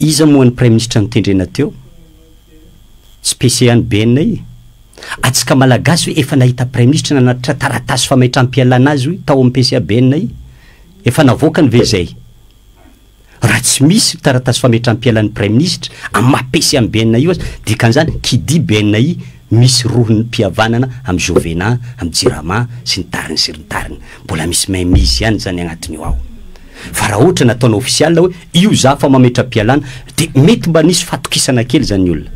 Iza moa ny praiminisitra notendrena teo? Tsy PCA ny BNI? Atsika malagasy hoe efa nahita praiminisitra nanatitra taratasy fameitram-pialana azy hoy tao amin'ny PCA BNI? Efa navoakany ve izay? Raha tsy misy taratasy fametram-pialan'ny Praiminisitra amin'ny maha PC an'i BNI io aza, dikan'izany, qui dit BNI, misy rohim-pihavanana amin'i Jovena, amin'i Jirama, sy ny tariny sy ny tariny. Mbola misy mainmise ihany izany agnatin'io ao. Fa raha ohatra nataonao ofisialy hoe io za fa mametram-pialana, dia mety mba nisy fahatokisana kely izany ny olona.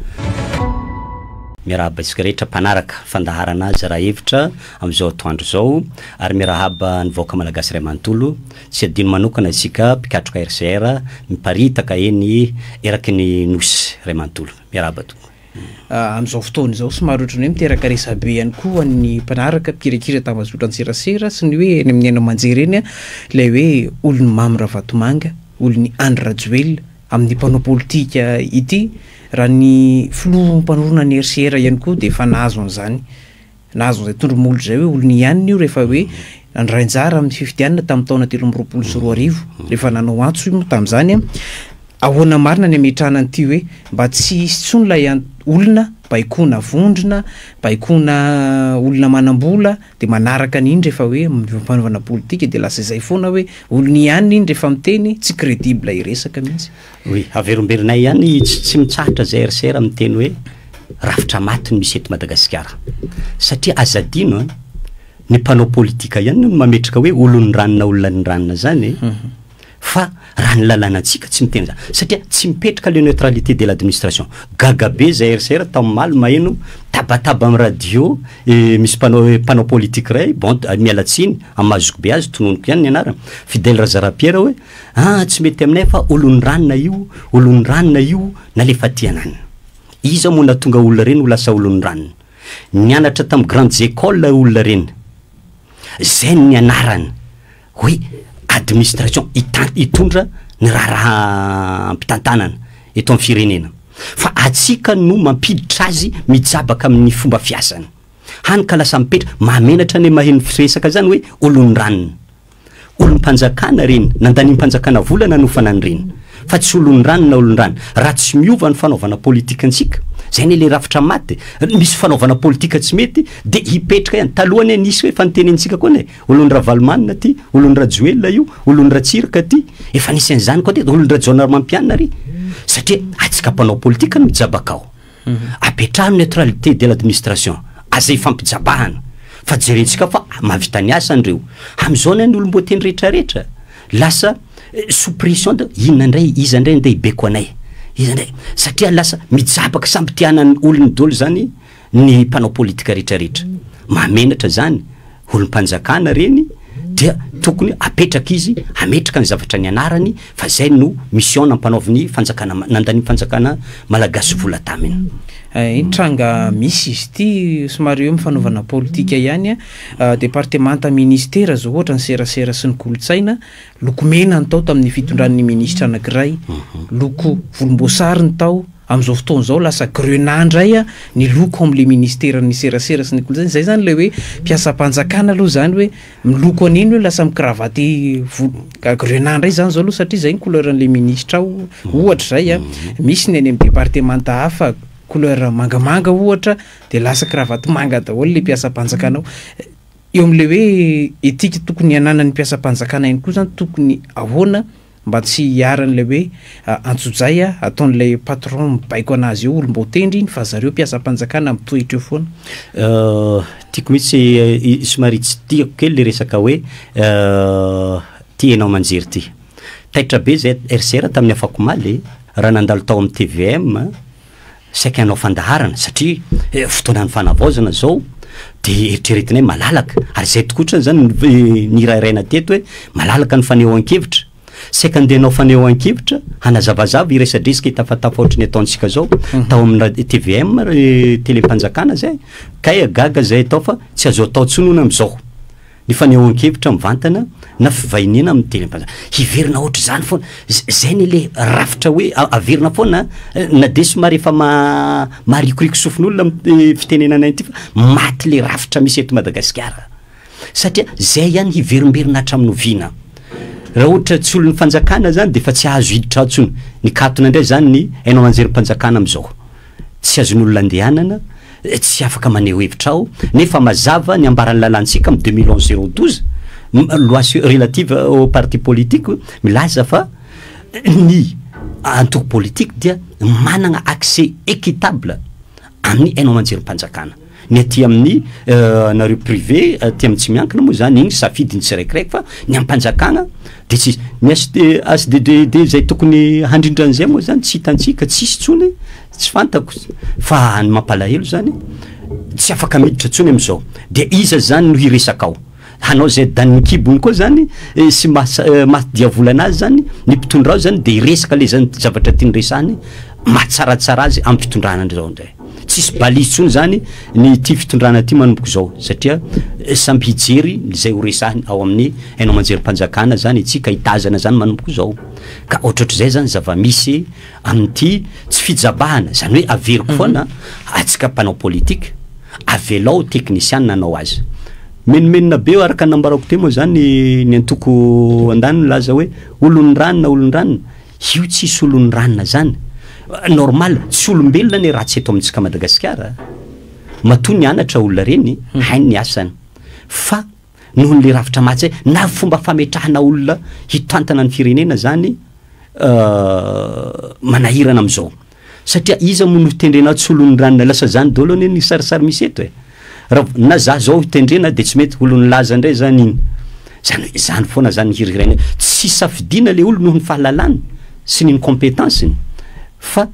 Miarahaba antsika rehetra mpanaraka fandaharana azy raha hevitra amin'izao atoandro izao, ary miarahaba ny vahoaka Malagasy iray manontolo. Tsy adino manokana isika mpikatroka RCR miparitaka eny eraky ny Nosy ray manontolo. Miarahaba tompoko. Amin'izao fotoana izao somary ohatran'ny hoe miteraka resabe ihany koa ny mpanaraka mpikirakira tambazotra an-tserasera sy ny hoe eny amin'ny haino aman-jery eny ilay hoe olon'i Mamy Ravatomanga, olon'i Andry Rajoelina amin'ny mpanao politika ity raha ny filoha mpanorina ny RCR ihany koa dia efa nahazo an'izany. Na azon'izay tondro molo izay hoe olony hianina io rehefa hoe nandray anjara amin'ny fifidianana tamin'ny taona telo amby roapolo sy roa arivo, rehefa nanao antso io moa tamin'izany an, ahoana marina ny hametrahana an'ity hoe mba tsy hisy intsony ilay an, olona baikoana vondrona, baikoana olona manam-bola, dia manaraka an'iny rehefa hoe mivampanovanam-politika dia lasa izay foana hoe olony hianina iny rehefa miteny, tsy credible hiresaka mihitsy. Oui, averimberinay ihany tsy tsy mitsahatra zay RCR miteny hoe rafitra maty no misy eto Madagasikara. Satria aza adino an, ny mpanao politika ihany no mametraka hoe olon'ny ranona olona ny ranona zany e. Mhm. Fa raha ny lalànantsika tsy miteny zany. Satria tsy mipetraka le neutralité de l'administration. Gaga be zay RCR tao maly maheno tabataba amin'ny radio eh, misy mpanao eh, mpanao politika iray bon miala tsiny amin'ny mahazokobe azy tononiko ihany ny anarany. Fidèle Razarapiera hoe Aa tsy mety aminay fa olon'ny ranona io, olon'ny ranona io nalefateanan. Iza moa natonga olona ireny ho lasa olon'ny ranona. Nianatra tamin'ny grandes écoles olona ireny. Zay no nianarana hoe administration, hitan, hitondra ny raharaham-pitantanana eto amin'ny firenena. Fa atsika no mampiditra azy mijabaka amin'ny fomba fiasany. Hany ka lasa mipetra, mahamenatra ny maheno resaka zany hoe olon'ny ranona. Olom-panjakana ireny, nandaniam-panjakana vola nanofana an'ireny, fa tsy olon-drano na olon-drano. Raha tsy miova ny fanaovana politikantsika, izay anie ilay rafitra maty e! Misy fanaovana politika tsy mety, dia hipetraka ihany. Taloha anie nisy hoe, efa notenenintsika koa anie e! Olon-dRavalomanana ity, olon-dRajoelina io, olon-dRatsiraka ity, efa nisy an'izany koa teto, olon-dRajaonarimampianina ary! Satria antsika mpanao politika no mijabaka ao. Apetraho ny neutralité de l'administration, aza ifampijabahana, fa jerentsika fa mahavita ny asany ireo. Amin'izao anie ny olom-boateny rehetra rehetra lasa sous pression de inona indray, iza indray andeha hibeko anay, iza indray, satria lasa mijabaka samy te hanana ny olony daholo izany ny mpanao politika rehetra rehetra. Mahamenatra izany. olom-panjakana reny dia tokony apetraka izy ametraka ny zavatra ny anarany fa zay no mission nampanaovin'ny fanjakana nandan'ny fanjakana malagasy vola taminy eh, tranga misy izy ity somary eo mifanaovana politika ihany ah, departemanta ministera zao ohatra ny serasera sy ny kolotsaina lokomena ny tao tamin'ny fitondran'ny ministra anakiray mhm. loko volomboasary ny tao Amin'izao fotoana izao lasa grenat indray ny loko ao amin'ilay ministeran'ny serasera sy ny kolontsaina, izay izany ilay hoe mpiasam-panjakana aloha izany hoe miloko an'iny hoe lasa mi-cravatte volo, grenat indray izany izao aloha satria izay ny couleur an'ilay ministra ao ohatra izay an, misy ny any amin'ny departemanta hafa couleur mangamanga ohatra dia lasa cravatte manga daholo ilay mpiasam-panjakana ao, eo amin'ilay hoe éthique tokony hananan'ny mpiasam-panjakana ihany koa izany tokony ahoana? Mba tsy hiharan'ilay hoe antsojay a, ataon'ilay patron mibaiko anazy eo olom-baotendry iny fa zareo mpiasam-panjakana mitoetra eo foana. Euh, tiako mihitsy, somary tsy tiako kely le resaka hoe euh, ty enao manjery ty. Taitra be zay RCR tamin'ny afakomaly raha nandalo tao amin'ny tvm, Saika hanao fandaharana satria fotoanan'ny fanavaozana izao dia eritreretina hoe malalaka, ary izay tokoa otrany izany nirahiraina teto hoe malalaka ny fanehoan-kevitra. Saika handeha hanao fanehoan-kevitra hanazavazava iresadresaka hitafatafa ohatry ny ataontsika izao tao amin'ny ra- tvm, ra- telem-panjakana izay, kay gaga izay atao fa tsy azo atao intsony hono amin'izao. Ny fanehoan-kevitra mivantana na fivahiniana amin'ny teny am-panjakana. Hiverina ohatr'izany foana. Izay anie ilay rafitra hoe averina foana an! Na dia somary efa maharikoriko sofin'olona amin'ny fitenenana ity fa maty ilay rafitra misy eto Madagasikara. Satria izay ihany hiverimberina hatramin'ny oviana? Raha ohatra tsy olon'ny fanjakana izany dia efa tsy hahazo hiditra ao intsony. Nikatona indray izany ny haino aman-jerim-panjakana amin'izao. Tsy azon'olona andehanana, tsy afaka maneho hevitra aho, nefa mazava ny ambaran'ny lalàntsika amin'ny deux mille onze zéro douze, loi sur relative aux partis politiques, milaza fa ny antoko politique dia manana accès équitable amin'ny haino aman-jerim-panjakana. Ny aty amin'ny anareo privé aty amin'ny tsy miankina moa zany igny safidin'ny tsiraikiraiky fa ny am-panjakana de tsisy. Ny HDDD zay tokony handrindra an'izay moa zany tsy hitantsika, tsisy tsony, tsy fantako. Fa ny mampalahelo zany tsy afaka miditra tsony am'zao. De iza zany no hiresaka ao? hanao izay danin'ny kibony koa zany sy maha diavolana azy zany ny mpitondra azy zany de hiresaka le zany zavatra tiany resahany mahatsaratsara azy amin'ny fitondrana zao ndray tsisy balizy tsony zany ny ty fitondrana ty manomboko zao satria eh, samby hijery izay horesahiny ao amin'ny hainao manjerim-panjakana zany itsika hitazana zany manomboko zao ka ohatrohatr'izay zany zava-misy amin'ity tsy fijabahana zany hoe averiko mhm. foana atsika mpanao politika avelao teknisianina anao azy Menomenona be eo araka ny nambarako teo moa izany ny antoko andaniny milaza hoe olon'ny ranona olon'ny ranona. Io tsy hisy olon'ny ranona izany. Normal, tsy olombelona anie ratsy eto amintsika Madagasikara. Matoa nianatra olona ireny, hmm. hainy ny asany. Fa noho ny rafitra mahatsy na fomba fametrahana olona hitantana ny firenena izany euh, manahirana amin'izao. Satria iza moa no hitendrena atsy olon'ny ranona lasa zany dolo anie ny sarisary misy eto e! Rav, na za zao hitendrena de tsy mety olon'ny laza ndray zany iny! Zany hoe zany foana zany ny hirihirainay tsy safidiana le olo noho ny fahalalany sy ny incompetence-ny fa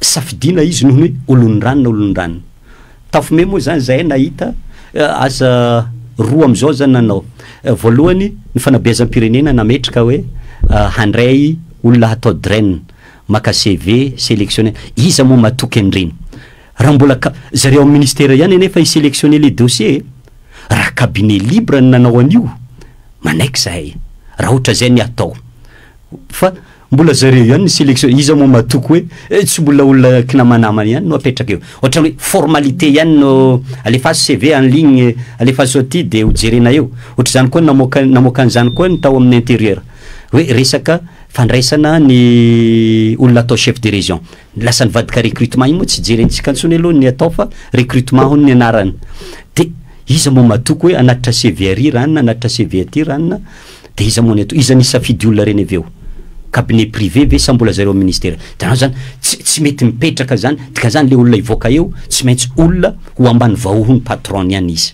safidiana izy noho ny hoe olon'ny ranona olon'ny ranona! Tafome moa zany zahay nahita asa roa amzao zany nanao! Voalohany ny fanabeazam-pirenena nametraka hoe handray olona hatao drain! Maka CV, selectionne. Iza moa matoky an'ireny? Raha mbola ka, zareo amin'ny ministera ihany anefa hi selectionner le dossier e! Raha cabinet libre no nanao an'io, manaiky zahay, raha ohatra zay ny atao. Fa mbola zareo ihany ny selectionne, iza moa matoky hoe eh, tsy mbola olona kinamanamana ihany no apetraka eo. Ohatrany hoe formalité ihany no, alefaso CV en ligne, alefaso aty dia ho jerena eo. Ohatr'izany koa namoaka, namoaka an'izany koa ny tao amin'ny interieur. Hoe resaka Fandraisana ny olona atao chef de région. Ny lasan'ny vadika recrutement iny moa tsy jerentsika intsony aloha ny atao fa recrutement hono ny anarany. De iza moa matoky hoe hanatitra CV ary ranona, hanatitra CV aty ranona, de iza moa ny atao? Iza nisafidy olona ireny avy eo? Cabinet privé ve sa mbola zareo amin'ny ministera? Hitanao zany, tsy tsy mety mipetraka zany, dikan'izany le olona hivoaka eo tsy maintsy olona ho ambany vahohon'ny patron-ny any izy.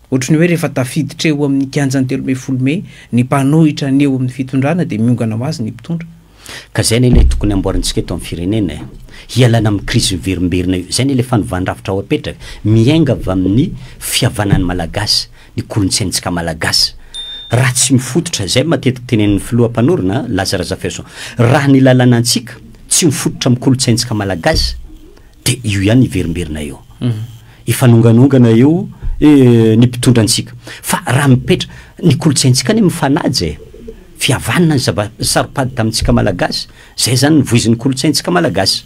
Ohatry ny hoe rehefa tafiditra eo amin'ny kianjan'ny telo ambin'ny folo mey ny mpanohitra ny eo amin'ny fitondrana dia miongana ho azy ny mpitondra. Ka izay anie ilay tokony amboarintsika eto amin'ny firenena e! Hialana amin'ny krizy miverimberina io. Izay anie ilay fanovandrafitra ho apetraka. Miainga avy amin'ny fihavanan'ny Malagasy, ny kolontsaintsika Malagasy. Raha tsy mifototra, izay matetika tenenin'ny filoha mpanorina, Laza Razafihaison, raha ny lalànantsika tsy mifototra amin'ny kolontsaintsika Malagasy, De io ihany hiverimberina eo. Hifanonganongana eo ny mpitondra antsika. Fa raha mipetra, ny kolontsaintsika anie mifanaja e! Fihavanana ny zava, saro-pady tamintsika malagasy. Zay zany ny voizin'ny kolontsaintsika malagasy.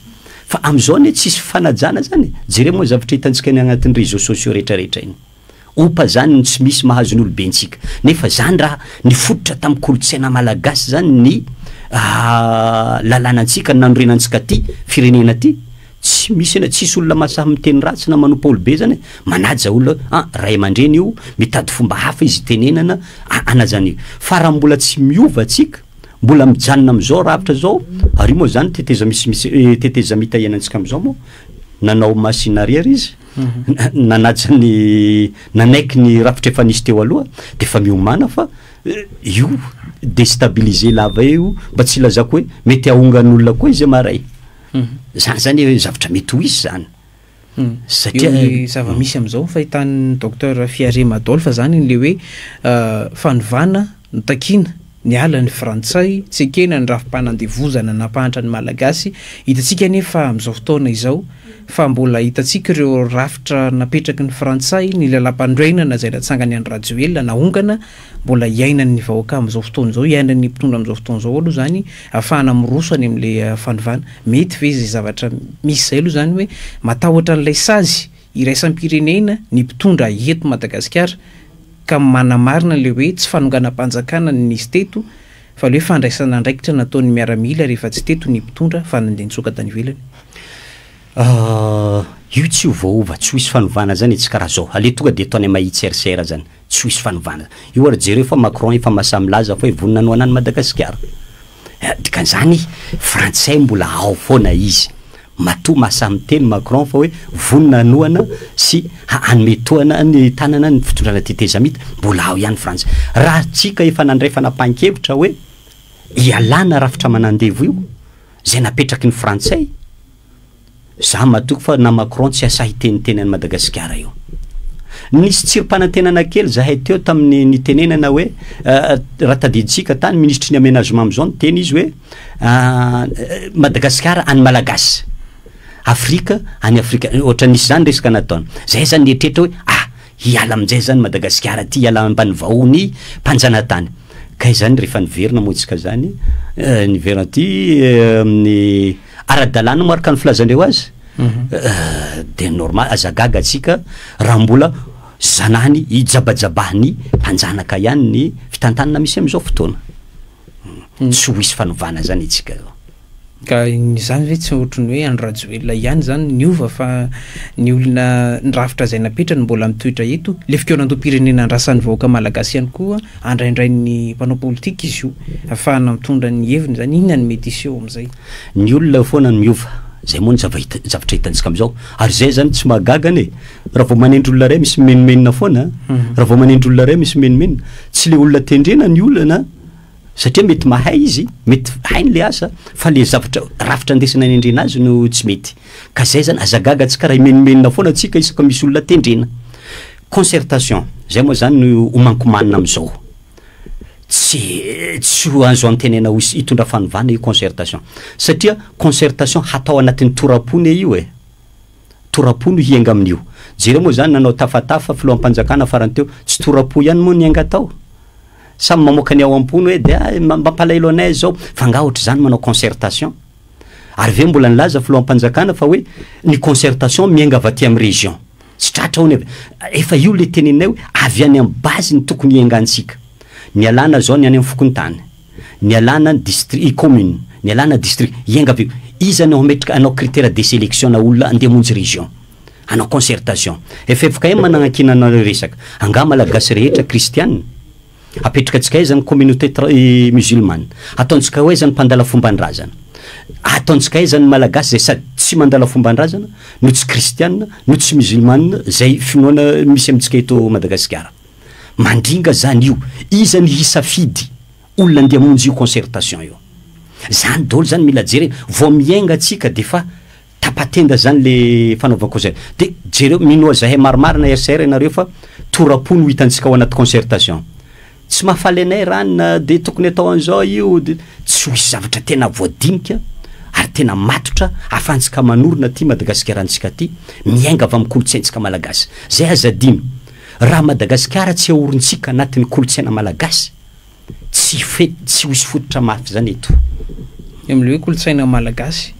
Fa amizao anie tsisy fifanajana zany e! Jereo moa ny zavatra hitantsika any agnatin'ny réseaux sociaux retraretra iny. Opa zany no tsy misy mahazo ny olobentsika. Nefa zany raha nifototra tam kolotsaina malagasy zany ny lalanantsika nanorenantsika ty firenena ty. Tsy misy ena tsisy olona mahasahy miteny ratsy na manompa olobe zany e. Manaja olona an ray amandreny io, mitady fomba hafa izy itenenana anajany io. Fa raha mbola tsy miova tsika, mbola mijanona am zao rafitra zao, ary io moa zany tetezamita ianantsika am zao moa nanao masina ary ary izy. nanaja ny nanaiky ny rafitra efa nisy teo aloha dia efa miomana fa io destabiliser lava eo mba tsy ilazako hoe mety ahongan'olona koa izy maray zany zany hoe zavatra mety ho izy zany satria ny zava-misy amin'izao fahitan'ny docteur Fiarema Adolphe zany le hoe fanovana Notakiana, niala ny Frantsay, tsy ekena ny rafi-panandevozana nampahantra ny Malagasy, hitantsika anefa amin'izao fotoana izao, fa mbola hitantsika ireo rafitra napetraky ny Frantsay, ny lalam-pandroenana izay natsangan'i Andry Rajoelina, nahongana, mbola hiainan'ny vahoaka amin'izao fotoana izao, hiainan'ny mpitondra amin'izao fotoana izao aloha izany, ahafahana miroso any amin'ilay fanovana. Mety ve izay zavatra misy izay aloha izany hoe matahotra an'ilay sazy iraisam-pirenena ny mpitondra eto Madagasikara? ka manamarina ilay hoe tsy fanonganam-panjakana no nisy teto fa ilay hoe fandraisana andraikitra nataon'ny miaramila rehefa tsy teto ny mpitondra fa nandeha nitsoaka tany ivelany. Ah, io tsy ho voaova, tsy ho hisy fanovana zany e, tsy karaha zao, aleo tonga dia ataony mahitsy RCR zany, tsy ho hisy fanovana zany. Io ary jereo fa Macron efa mahasahy milaza fa hoe vonona hanohanany Madagasikara. Dikan'izany frantsay mbola ao foana izy. Matoa maha samy teny Macron fa hoe vonona hanohana sy hanome tohana ny tanana ny fitondrana tetezamita, mbola ao ihany Frantsa. Raha tsy ka efa nandray fanapahan-kevitra hoe ialana rafitra aman'andevo io, izay napetraky ny Frantsay, za matoky fa na Macron tsy hasahy hiteniteny an'i Madagasikara io. Nisy tsirim-panantenana kely zahay teo tamin'ny nitenenana hoe raha tadidintsika tany, minisitry ny Amenagement amin'izao niteny izy hoe, Madagasikara any Malagasy, Afrika any Afrika, ohatra nisy zany resaka nataony. Zay zany nieritreritra hoe ah hiala amin'izay zany Madagasikara ty hiala ambanivahony mpanjanatany. Ka izany rehefa niverina moa isika zany, eh, niverina aty eh, amin'ny ara-dalàna moa araka ny filazan'ireo azy. Mhm. Eh, de normal, aza gaga atsika raha mbola zanany hijabajabahan'ny mpanjanaka ihany ny fitantanana misy am'izao fotoana. tsy ho hisy fanovana zany itsika zao. Ka izany ve tsy ohatry ny hoe Andry Rajoelina ihany izany niova fa ny olona ny rafitra izay napetrany mbola mitoetra eto. Ilay fikaonandoham-pirenena andrasan'ny vahoaka malagasy ihany koa andraindrain'ny mpanao politika izy io ahafahana mitondra ny heviny izany. Inona no mety hiseho amin'izay? Ny olona foana no miova. Izay moa no zavatra hitantsika amin'izao. Ary izay izany tsy mahagaga anie. Raha vao manendry olona iray misy mimenomenona foana a, Mhm. raha vao manendry olona iray misy mimenomenona, tsy le olona tendrena ny olana satria mety mahay izy, mety hainy le asa fa le zavatra rafitra ndesina anendrena azy no tsy mety. Ka zay zany, aza gaga antsika raha himenomenona foana antsika isaka misy olona tendrena. Concertation, zay moa zany no homankomanina am'zao. Tsy tsy ho azo antenaina ho hisy hitondra fanovana io concertation satria concertation hatao anatin'ny toram-pony io e. Tora-po no hienga amin'io. Jereo moa izany nanao tafatafa filoham-panjakana farany teo, tsy tora-po ihany moa nienga tao? Samy mamoaka ny ao am-pony hoe dia mampalahelo anay izao. Fa angaha ohatr'izany manao concertation? Ary ve mbola nilaza filoham-panjakana fa hoe ny concertation mienga avy aty amin'ny région? Tsy tratra hono e! Efa io ilay teneninay hoe avy any amin'ny base no tokony hiengantsika. Ny alana izao ny any amin'ny fokontany. Nialana ny distri i commune. Nialana distri Ianga avy eo. Iza no hametraka hanao critère de sélection na olona handeha hamonjy région. Hanao concertation. Ffkm mananakina anareo resaka. Angaha malagasy rehetra kristiana? Apetrakantsika aiza ny communauté tra i musulmane? Ataontsika ho aiza ny mpandala fomban-drazana? Ataontsika aiza ny malagasy izay sady tsy mandala fomban-drazana no tsy kristiana no tsy musulmane izay finoana misy amintsika eto Madagasikara? Mandringa zany io, iza ny hisafidy olona andeha hamonjy io concertation io? Zany daholo zany mila jerena, vao miainga tsika defa tapa-tenda zany le fanaovana concer, de jereo, minoa zahay marimarina RCR ianareo fa tora-po no hitantsika ao anaty concertation. Tsy mahafaly anay r'anona de tokony atao an'zao io de, tsy ho hisy zavatra tena voadinika ary tena matotra ahafahantsika manorina ty Madagasikara antsika ty, miainga avy amin'ny kolontsaintsika malagasy. Zay aza adino. Raha Madagasikara tsy ahorintsika anatin'ny kolontsaina malagasy, tsy tsy ho hisy fototra mafy izany eto. Ny amin'ilay hoe kolontsaina malagasy,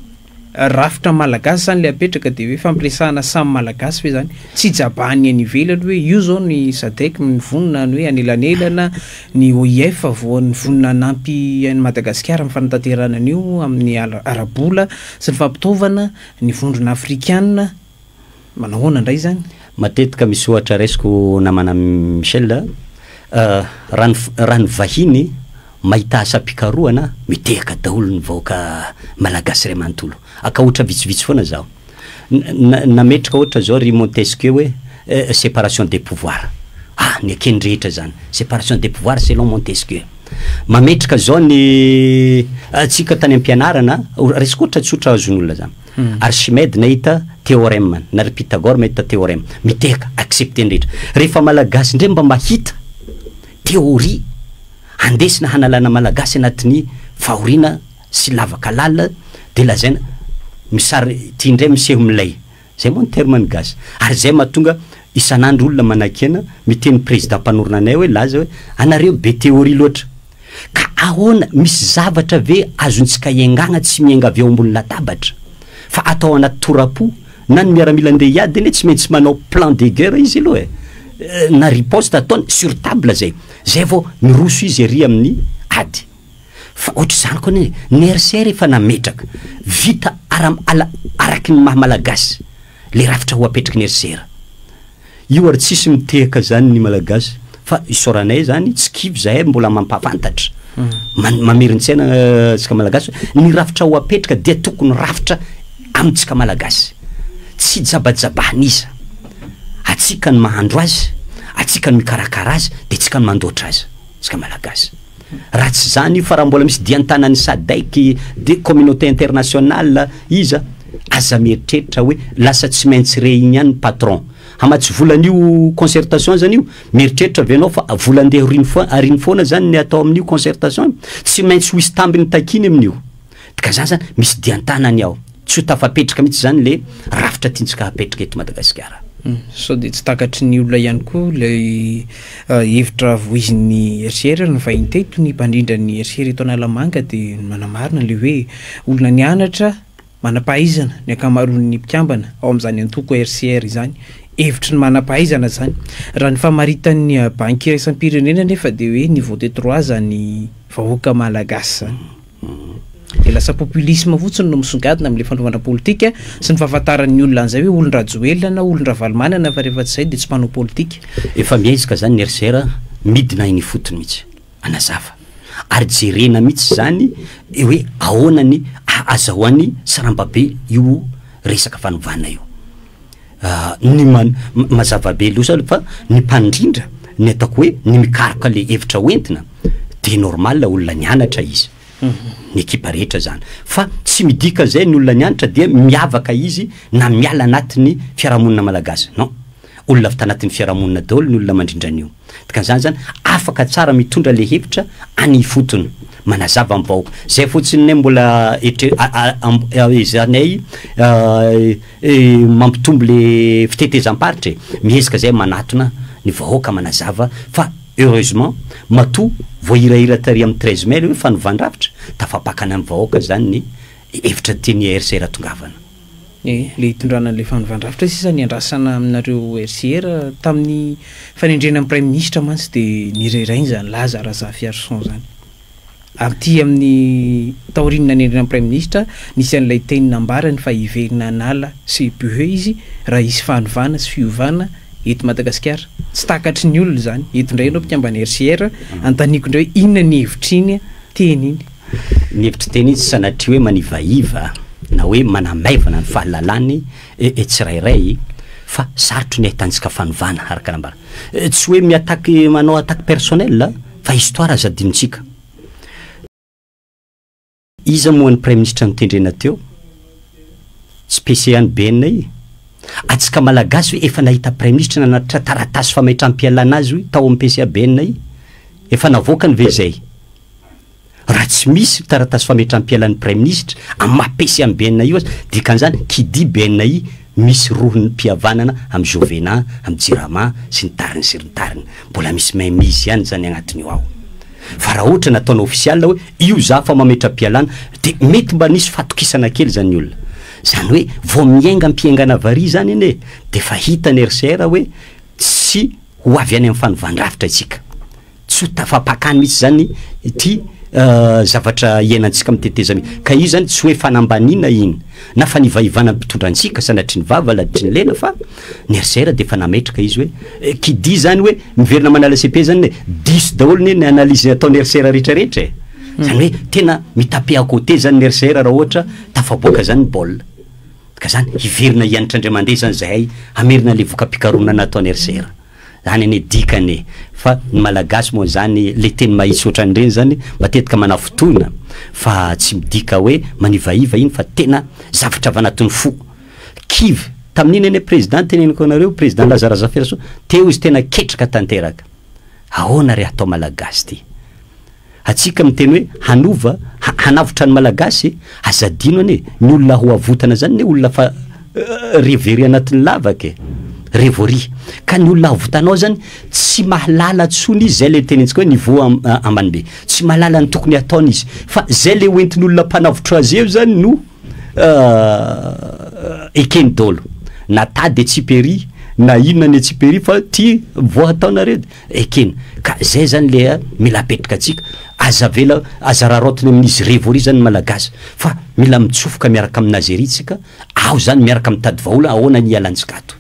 rafitra malagasy izany ilay apetraka dia hoe fampiresahana samy malagasy ve izany? Tsy ijabahan'ny any ivelany hoe io izao ny Sadec mivonona ny hoe anelanelana, ny OIF vao nivonona hanampy an'i Madagasikara amin'ny fanatanterahana an'io amin'ny ara-bola sy ny fampitaovana, ny vondrona afrikana. Manao ahoana indray izany? Matetika misy ohatra raisiko namana Michel a, raha ny raha ny vahiny mahita asam-pikarohana mitehaka daholo ny vahoaka malagasy iray manontolo. Akaotra vitsivitsy foana zaho. Na nametraka ohatra zao ry Montesquieu hoe separation des pouvoirs. Ah, nekeny rehetra zany. Separation des pouvoirs selon Montesquieu. Mametraka zao ny antsika tany am-pianarana, raisiko ohatra tsotra azon'olona zany. Archimede nahita theorem, na ry Pythagore mahita theorem, mitehaka, accepter ny rehetra. Rehefa Malagasy indray mba mahita theorie handesina hanalana Malagasy anatin'ny fahoriana sy lavaka lalina dia lazaina misary ity indray miseho milay. Izay moa ny terme ny gasy. Ary izay mahatonga isan'andro olona manakena miteny Président mpanorina anay hoe laza hoe anareo be theorie loatra. Ka ahoana, misy zavatra ve azontsika iangana tsy miainga avy eo ambony latabatra, fa atao anaty tora-po? Na ny miaramila ndeha hiady anie tsy maintsy manao plan de guerre izy aloha eh! Na riposte ataony sur table zay, zay vao miroso izy ery amin'ny ady. Fa ohatr'izany kony eh! Ny RC rehefa nametraka, vita ara, ala, araky ny maha malagasy. le rafitra ho apetraky ny RCR. Io ary tsisy mitehaka zany ny malagasy fa isaoranay zany tsy kivy zahay mbola mampafantatra man mamerin-tsaina tsika malagasy ny rafitra ho apetraka dia tokony rafitra amintsika malagasy tsy jabajabahan'iza atsika ny mahandro azy atsika ny mikarakara azy de tsika ny mandoatra azy tsika malagasy. Raha tsy zany io fa raha mbola misy dian-tanan'ny sadec de communauté internationale iza aza mieritreritra hoe lasa tsy maintsy re igny ihany ny patron hamatsy vola an'io concertation zany io mieritreritra ve anao fa vola andeha ariny foana zany ny atao amin'io concertation tsy maintsy ho hisy tambiny takiny amin'io Ka za zany misy dian-tanany aho. Tsy ho tafapetraka mihitsy zany le rafitra tiantsika hapetraka eto Madagasikara. Sao dia tsy takatry ny olona ihany koa ilay ah, hevitra voizin'ny RCR ary nivahiny teto ny mpandrindra ny RCR eto Analamanga dia manamarina ilay hoe olona nianatra manam-pahaizana ny ankamaroan'ny mpikambana ao amin'izany antoko RCR izany. Hevitry ny manam-pahaizana izany. Raha ny famaritan'ny ah, banky iraisam-pirenena anefa dia hoe niveau de trois izany vahoaka malagasy izany. Dia lasa populisme fotsiny no misongadina amin'ilay fanaovana politika sy ny fahafantaran'ny olona an'izay hoe olon-dRajoelina na olon-dRavalomanana fa rehefa tsy izay dia tsy mpanao politika. Efa miaiska zany ny RCR a, midina eny ifotony mihitsy. Anazava. Ary jerena mihitsy zany hoe ahoana ny ahazahoany saramba be io resaka fanovana io. ny ma- mazava be loatra aloha fa ny mpandrindra ny ataoko hoe ny mikaroka le hevitra ho entina de normal olona nianatra izy ny ekipa rehetra zany fa tsy midika zay ny olona nianatra dia miavaka izy na miala anatin'ny fiarahamonina malagasy non olona avy tanatin'ny fiarahamonina daholo ny olona mandrindra an'io Dikan'izany zany afaka tsara mitondra le hevitra any ifotony, manazava am vahoaka. Zay fotsiny ne mbola etre- a- a- am- ezahanay mampitombo le fitetezam-paritra e. Miezaka zay manatona ny vahoaka manazava fa heureusement matoa voahirahira tary am treize mai le hoe fanovan-drafitra, tafapakana am vahoaka zany ny hevitra tian'i RC Ratongavana. Ny le hitondrana an'ilay fanovandravitra sisa niandrasana aminareo RCR tamin'ny fanendrena ny praiminisitra mantsy dia nirahirainy izany laza Razafiarison izany. Aty amin'ny taorian'ny nanendrena ny praiminisitra nisy an'ilay teny nambarany fa hiverina hanala CPE izy raha hisy fanovana sy fiovana eto Madagasikara. Tsy takatry ny olona izany. Eto indray ianao mpikambana RCR, antaniko indray inona ny hevitr'iny teny iny. Ny hevitr'i Teny izy sanatria hoe manivaiva na hoe manamaivana ny fahalalany e tsirairay fa sarotry ny ahitantsika fanovana araka nambara. Tsy hoe mi-attaque manao attaque personnel a fa histoire aza adinontsika. Iza moa ny praiminisitra notendrena teo? Tsy PC any BNI? Atsika malagasy ve efa nahita praiminisitra nanatitra taratasy fametraham-pialana azy hoy tao amin'ny PCA BNI? Efa navoakany ve izay? Raha tsy misy taratasy fametram-pialan'ny Praiminisitra amin'ny maha PC an'i BNI io aza, dikan'izany, qui dit BNI, misy rohim-pihavanana amin'i Jovena, amin'i Jirama, sy ny tariny sy ny tariny. Mbola misy mainmise ihany izany agnatin'io ao. Fa raha ohatra nataonao ofisialy hoe io za fa mametra-pialana, dia mety mba nisy fahatokisana kely izany ny olona. Izany hoe vao miainga am-pihengana vary izany anie e, dia efa hitan'ny RCR hoe tsy ho avy any amin'ny fanovàn-drafitra isika. Tsy ho tafapakà mihitsy izany ity zavatra iainantsika amin'ny tetezamita ity. Ka io izany tsy hoe fanambaniana iny, na fanivaivana ny mpitondra antsika, sanatria ny vava, laditry ny lela, fa ny RCR dia efa nametraka izy hoe, qui dit izany hoe miverina manala cepe izany anie, diso daholo anie ny analyse ataon'ny RCR rehetrarehetra e! Izany hoe tena mi-taper à côté izany ny RCR raha ohatra tafaboaka izany ny baolina. Ka izany, hiverina hianatra indray mandeha izany izahay hamerina an'ilay voka-pikarohana nataon'ny RCR. Zany anie dikany e! Fa ny malagasy moa zany le teny mahitsy otran'ireny zany matetika manafintohina fa tsy midika hoe manivaiva iny fa tena zavatra avanatin'ny fo! Kivy tamin'iny anie président teneniko anareo président Laza Razafirasoa teo izy tena ketraka tanteraka! Ahoana re hatao malagasy ty? Atsika miteny hoe hanova, hanavotra ny malagasy e! Aza adino anie, ny olona ho avotana zany ne olona fa re very anatin'ny lavaka e! re voaria. Ka ny olona avotanao zany tsy mahalala tsony izy, zay le tenenintsika hoe niveau ambany be. Tsy mahalala ny tokony hataony izy. Fa zay le ho entin'olona mpanavotra azy eo zany no ekeny dolo. Na tady etsiperi, na inona ny etsiperi fa ty voa hataonareo. Ekena ka zay zany le mila apetraka antsika, aza avela, aza raraotina amin'izy revory zany ny malagasy fa mila mitsofoka miaraka amina Azeria tsika ao zany miaraka mitady vahola ahoana ny hialantsika ato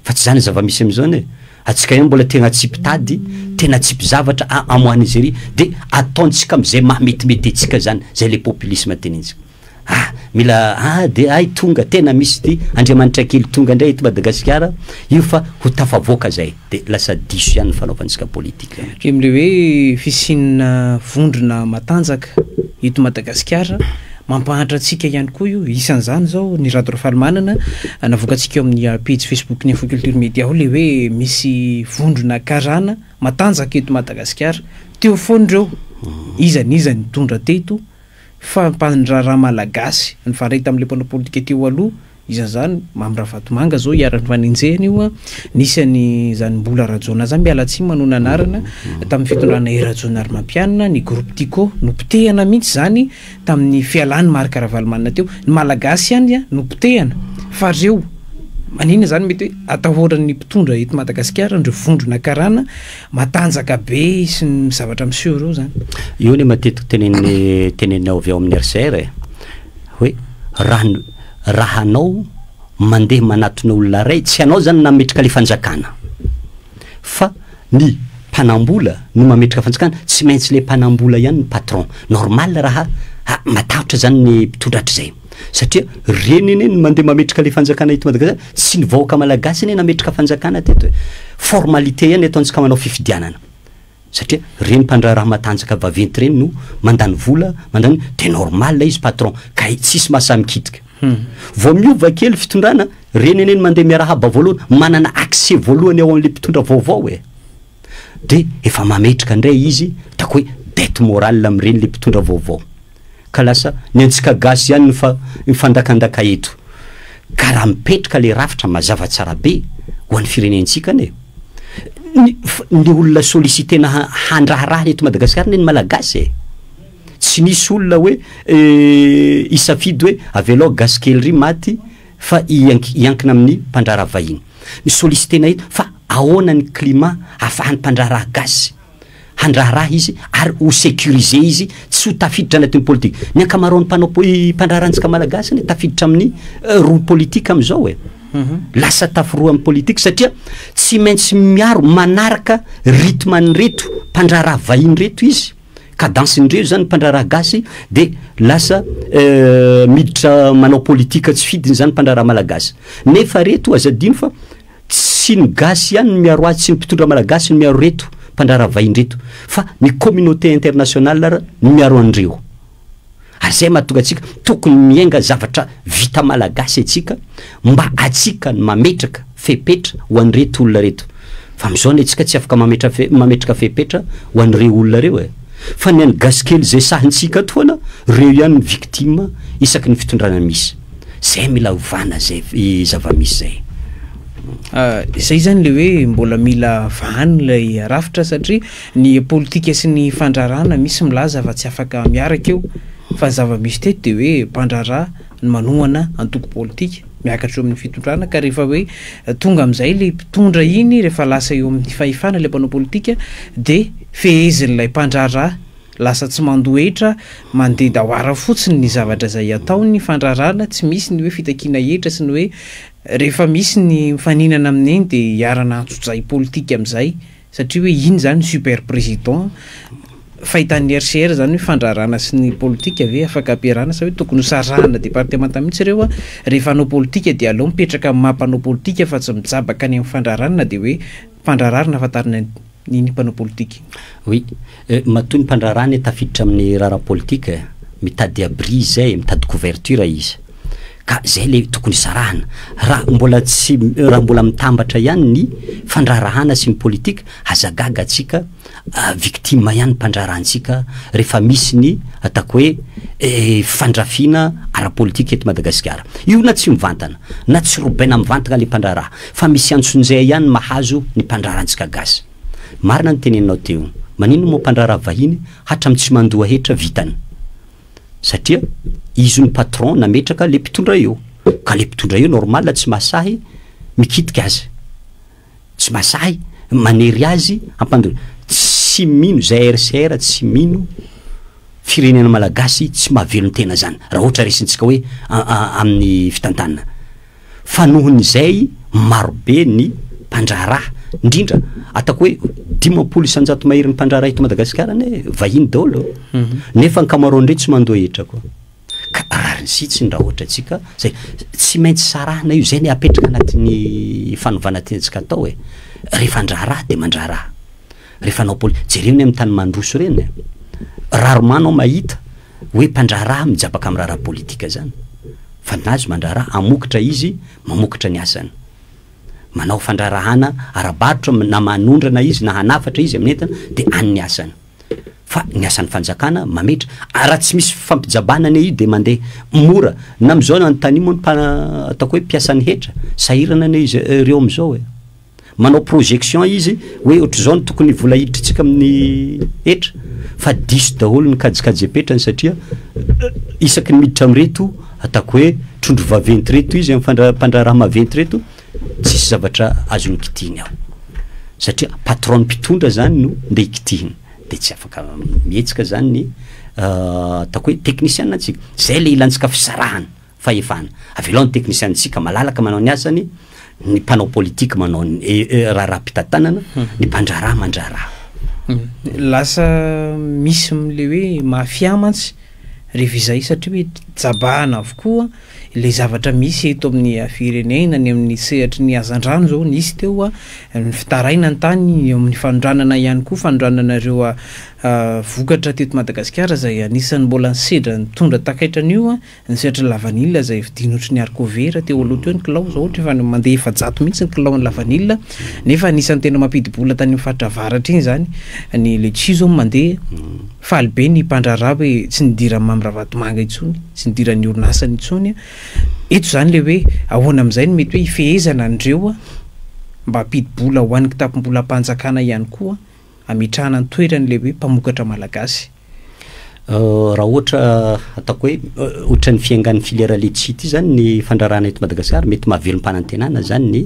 fa tsy zany ny zava-misy amizao ne atsika ihany mbola tegna tsy mpitady tena tsy mpizavatra a amoan'Azeria de ataontsika amizay maha metimety antsika zany zay le populisme tenentsika. Ah! Mila ah de ay tonga tena misy ity Andriamanitra kely tonga ndray eto Madagasikara io fa ho tafavoaka zay de lasa diso ihany ny fanaovantsika politika. Km le hoe fisiana vondrona matanjaka eto Madagasikara mampahantra antsika ihany koa io isan'izany zao ny Rado Rafalimanana navoakantsika eo amin'ny pejy Facebook ny Info Culture Media ao le hoe misy vondrona karana matanjaka eto Madagasikara teo foana ireo iza n'iza nitondra teto Fampanin-draharaha Malagasy nifandraika tamin'ilay mpanao politika teo aloha, isan'ny izany Mamy Ravatomanga izao iharan'ny fanenjehana io an, nisy an'izany Mbola Rajaonah izany, miala tsiny manao ny anarana, tamin'ny fitondrana I Rajaonarimampianina, ny groupe Tiko nopotehana mihitsy izany tamin'ny fialan'i Marc Ravalomanana teo, ny Malagasy ihany an no potehana, fa ry zeo maninona izany mety hoe atahoran'ny mpitondra eto Madagasikara an'ireo vondrona karana Matanjaka be sy ny zavatra miseho ireo zany. Io le matetiky tenenin'ny teneninao avy ao amin'ny RCR e. Hoe raha ny raha anao mandeha manatona olona ray tsy anao zany nametraka le fanjakana fa ny mpanambola no mametraka fanjakana tsy maintsy le mpanambola ihany ny patron. Normal raha ha matahotra zany ny mpitondra hatrizay. Satria reny anie no mandeha mametraka le fanjakana eto Madagascar, tsy ny vahoaka malagasy anie nametraka fanjakana teto e. Formalité ihany ataontsika manao fifidianana. Satria reny mpandraharaha matanjaka vaventy reny no mandany vola, mandany, de normal ilay izy patron, ka tsisy mahasahy mikitika. Hmm. Vao miova kely fitondrana, reny anie no mandeha miarahaba voalohany, manana accès voalohany ao amin'le mpitondra vaovao e. de efa mametraka ndray izy ataoko hoe bete morale amin'ireny le mpitondra vaovao ka lasa ny antsika gasy ihany no fa mifandakandaka eto ka raha mipetraka le rafitra mazava tsara be ho an'ny firenentsika anie ny, ny olona sollicitena ha, handraharaha eto madagasikara anie ny malagasy e tsy nisy olona hoe eh, hisafidy hoe avelao gasy kely ry maty fa hiank- hiankina amin'ny mpandrara vahiny mi-solliciter anay eto fa ahoana ny climat ahafahan'ny mpandraharaha gaz handraharaha izy ary ho securiser izy tsy ho tafiditra anatin'ny politique. Ny ankamaroan'ny mpanao mpandraharahantsika malagasy anie tafiditra amin'ny eh, rohy politique amin'izao e. Mhm. Lasa taforoan'ny politique satria tsy maintsy miaro manaraka rythme an'ireto mpandraharaha vahiny reto izy. Cadence ndreo izany mpandraharaha gasy de lasa miditra manao politique tsy fidiny izany mpandraharaha malagasy. Nefa reto aza adino fa tsy ny gasy ihany no miaro azy, tsy ny mpitondra malagasy no miaro reto mpandraharaha vahiny reto fa ny communauté internationale ara no miaro an'ireo. ary izay mahatonga antsika tokony miainga zavatra vita malagasy antsika mba antsika no mametraka fepetra ho an'ireto olona reto fa amin'izao anie antsika tsy afaka mametra mametraka fepetra ho an'ireo olona ireo e fa ny an'ny gasikely izay sahintsika ato foana ireo ihany ny victime isaky ny fitondrana misy zay mila hovana zay zava-misy zay Ah, izay zany le hoe mbola mila vahany ilay rafitra satria Ny politika sy ny fandrarana misy milaza fa tsy afaka miaraka eo fa ny zava-misy teto dia hoe mpandrara no manohana antoko politika miakatra eo amin'ny fitondrana ka rehefa hoe tonga amin'izay ilay mpitondra iny rehefa lasa eo amin'ny fahefana ilay mpanao politika dia fehezin'ilay mpandrara lasa tsy mandohetra mandeha daoara fotsiny ny zavatra izay atao ny fandrarana tsy misy ny hoe fitakiana hetra sy ny hoe rehefa misy ny mifaninana amin'iny dia hiarana antsojay politika amin'izay Satria hoe iny zany super président fahitan'ny RCR zany hoe fandrarana sy ny politika ve afaka ampiarahana sa hoe tokony ho sarahana départements mihitsy reo an, rehefa hanao politika dia aleo mipetraka amin'ny maha mpanao politika fa tsy mijabaka any amin'ny fandrarana dia hoe mpandrararna fantarina ny ny mpanao politika. Oui, matoa ny mpandrarana tafiditra amin'ny raharaha politika, mitady abri izay, mitady couverture izy. Ka izay ilay tokony hisarahana. Raha mbola tsy, raha mbola mitambatra ihany ny fandraharahana sy ny politika, aza gaga antsika, victime ihany mpandraharaha antsika rehefa misy ny ataoko hoe fandrafiana ara-politika eto Madagasikara. Io na tsy mivantana, na tsy robaina mivantana ilay mpandraharaha, fa misy antsonjay ihany mahazo ny mpandraharaha antsika gasy. Marina ny teneninao teo. Maninona moa mpandraharaha vahiny hatramin'ny tsy mandoa hetra vitany. satria izy no patron nametraka le mpitondra eo ka le mpitondra eo normal tsy mahasahy mikitika azy tsy mahasahy manery azy hampandona tsy mino zay RCR tsy mino firenena malagasy tsy mahavelon-tena zany raha ohatra resintsika hoe amin'ny fitantanana fa noho ny izay marobe ny mpandraharaha, indrindra ataoko hoe dimampolo isanjato mahery ny mpandraharaha eto Madagasikara anie vahiny daholo, mhm. nefa ankamaroany ireo tsy mandoa hetra koa. Ka rariny sitsiny raha ohatra tsika zay tsy maintsy sarahana io zay ny apetraka anatin'ny fanovana tiantsika atao e. Rehefa andraharaha de mandraharaha. le fanao poli, jereo ny amin'ny tany mandroso reny a! Rarement anao mahita hoe mpandraharaha mijabaka amin'ny raharaha politika zany fa ny azy mandraharaha, hamokatra izy, mamokatra ny asany. Manao fandraharahana ara-barotra na manondrana izy na hanafatra izy amin'ny entana de any ny asany. Fa ny asan'ny fanjakana mametra, ary raha tsy misy fifampijabana anie io de mandeha mora. Na am'zao na anontanio moa ny mpa, ataoko hoe mpiasan'ny hetra, sahirana anie izy ireo am'zao e! Manao projection izy hoe ohatr'izao no tokony vola hiditrintsika amin'ny hetra fa diso daholo ny kajikajim-petrany satria isaky ny miditra amin'ireto ataoko hoe trondro vaventy ireto izy amin'ny mpandraharaha maventy ireto tsisy zavatra azony kitihiny ao. Satria patron mpitondra zany no ndeha ikitihina. Dia tsy afaka mihetsika zany ny ah, ataoko hoe teknisiana antsika. Zay le ilantsika fisarahana. Fahefana. Avelao ny teknisianintsika malalaka manao ny asany, ny mpanao politika manao ny raharaham-pitantanana, ny mpandraharaha mandraharaha. Lasa misy ilay hoe mafia mantsy rehefa izay satria hoe jabahana avokoa ilay zavatra misy eto amin'ny firenena, ny amin'ny sehatry ny hazandrano izao nisy teo, ny fitaraina ny tany, eo amin'ny fanondranana ihany koa, fanondranana ireo vokatra teto Madagasikara izay anisan'ny mbola nisedra nitondra takaitra an'io. Ny sehatry ny lavanila izay vidiana ohatry ny haricot vert teo aloha teo ny kilao izao ohatra efa mandeha efajato mihitsy ny kilaon'ny lavanila nefa anisan'ny tena mampidi-bola tany amin'ny faritra avaratra iny izany ny letchis izao mandeha mm. faly be ny mpandraharaha hoe tsy nidiran'i Mamy Ravatomanga intsony tsy nidiran'ny orinasany intsony eto izany le hoe ahoana amin'izay no mety hoe ifehezana an'ireo mba hampidi-bola ho an'ny kitapom-bolam-panjakana ihany koa hametrahana ny toerany ilay hoe mpamokatra malagasy? Raha ohatra ataoko hoe ohatran'ny fiengan'ny filière letchis ity zany ny fandrarahana eto Madagasikara, mety mahavelom-panantenana zany ny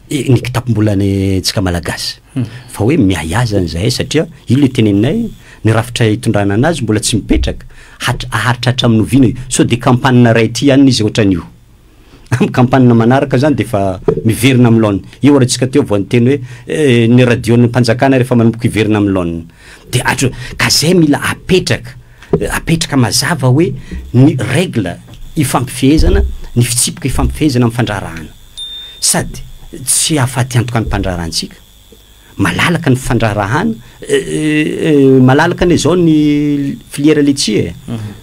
ny kitapom-bolan'ny tsika malagasy hmm. fa hoe miahy azany zahay satria io le teneninay ny rafitra itondrana anazy mbola tsy mipetraka haritratra amin'ny oviana io so de kampanina ray ty ihany izy ohatran'io Amin'ny kampana manaraka izany dia efa miverina amin'ny laoniny. Io ary antsika teo vao niteny hoe ny radio-n'ny mpanjakana rehefa manomboka hiverina amin'ny laoniny. Dia hatro, ka izay mila apetraka, apetraka mazava hoe ny règle ifampifehezana, ny fitsipika ifampifehezana amin'ny fandraharahana. Sady tsy hahafaty antoka ny mpandraharahantsika, Malalaka ny fandraharahana, malalaka anie zao ny filiera letchie e,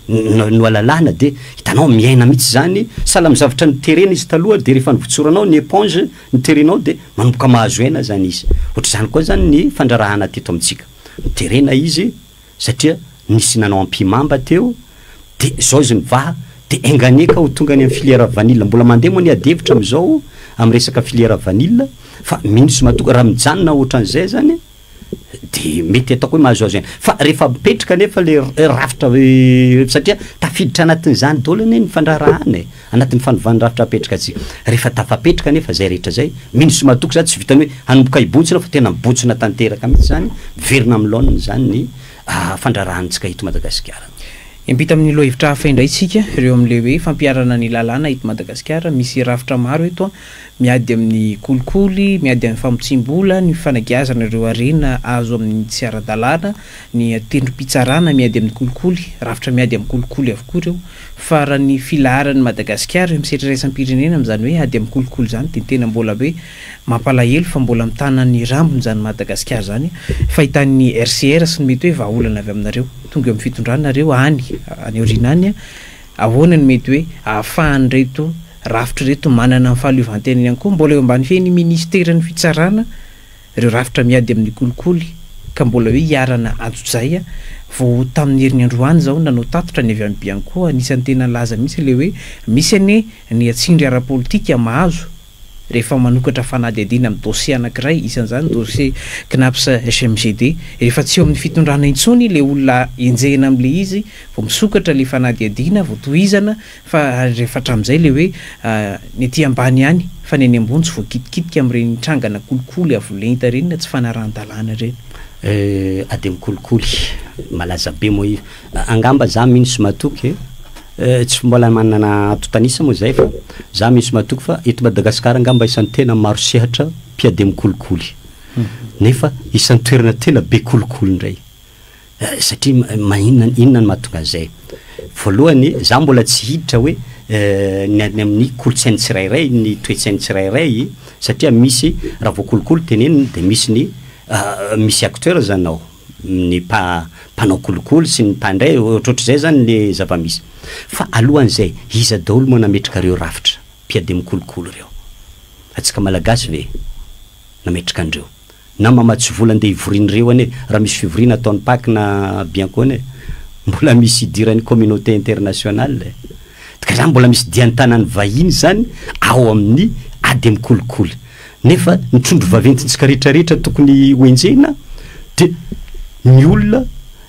no no alalana de hitanao miaina mihitsy izany, sahala amin'ny zavatra niterena izy taloha de rehefa nivotsoranao ny éponge niterenao de manomboka mahazo aina zany izy, ohatr'izany koa zany ny fandraharahana teto amintsika, niterena izy, satria nisy nanao ampihimamba teo de zao izy mivaha de enga anie ka ho tonga any amin'ny filière vanille, mbola mandeha moa ny adihevitra amin'izao amin'ny resaka filière vanille fa mino sy matoky raha mijanona ohatran'izay zany de mety ataoko hoe mahazoazo aina, fa rehefa mipetraka anefa le rafitra satria tafiditra anatin'izany daholo anie ny fandraharahana e. Anatin'ny fanovàn'ny rafitra apetraka tsy. Rehefa tafapetraka anefa izay rehetra izay, mino sy matoky izany tsy vitan'ny hoe hanomboka hibontsina fa tena mibontsina tanteraka mihitsy izany, miverina amin'ny laoniny izany ny fandraharahantsika eto Madagasikara. Hiampita amin'ny lohahevitra hafa indray isika, ireo amin'ilay hoe fampiharana ny lalàna eto Madagasikara. Misy rafitra maro eto an, miady amin'ny kolikoly, miady amin'ny famotsiam-bola, ny fanagiazana ireo harena azo amin'ny tsy ara-dalàna, ny tendrom-pitsarana miady amin'ny kolikoly, rafitra miady amin'ny kolikoly avokoa ireo. Fa raha ny filaharan'i Madagasikara eo amin'ny sehatra iraisam-pirenena amin'izany hoe ady amin'ny kolikoly izany dia tena mbola hoe mampalahelo fa mbola mitana ny rambony izany Madagasikara izany fahitan'ny RCR sy ny mety hoe vahaolana avy aminareo tonga eo amin'ny fitondranareo any any aoriana any ahoana ny mety hoe ahafahan'ireto rafitra ireto manana ny fahaleovantenany ihany koa mbola eo ambany fehin'ny ministeran'ny fitsarana Ireo rafitra miady amin'ny kolikoly ka mbola hoe iharana antsojay a! Vao tamin'ny herin'andro any izao nanao tatitra ny avy any Bianco, anisan'ny tena nilaza mihitsy ilay hoe misy anie ny tsindry ara-politika mahazo rehefa manokatra fanadihadiana amin'ny dosie anankiray, isan'izany dosie Cnaps HMGD. Rehefa tsy eo amin'ny fitondrana intsony ilay olona enjehina amin'ilay izy vao misokatra ilay fanadihadiana, vao tohizana Fa rehefa hatramin'izay ilay hoe ny ety ambany ihany fa ny any ambony tsy voakitikitika amin'ireny trangana kolikoly avo lenta ireny na tsy fanarahan-dalàna ireny. Euh ademo kolikoly malaza be moa io. Angamba za mino sy matoky eh, tsy mbola manana antontan'isa moa zay fa za mino sy matoky fa eto Madagasikara angamba isan'ny tena maro sehatra mpiademo kolikoly. Nefa isan'ny toerana tena be kolikoly indray. Satria maninona, inona no mahatonga an'izay? Voalohany, izaho mbola tsy hiditra hoe ny any amin'ny kolontsain'ny tsirairay, ny toe-tsain'ny tsirairay, satria misy, raha vao kolikoly tenenina dia misy ny, misy acteurs izany ao, ny mpa, mpanao kolikoly sy ny mpandray, ohatrohatr'izay izany ny zava-misy. Fa alohan'izay, iza daholo moa nametraka ireo rafitra mpiadiam-kolikoly ireo? Antsika Malagasy ve nametraka an'ireo? Na mamatsy vola ndeha hivorian'ireo anie raha misy fivoriana ataon'i Pac na Biancone e! Mbola misy idiran'ny communauté internationale e! Ka izany mbola misy dian-tanan'ny vahiny izany ao amin'ny ady amin'ny kolikoly. Nefa ny trondro vaventintsika rehetra rehetra tokony ho enjehina dia ny olona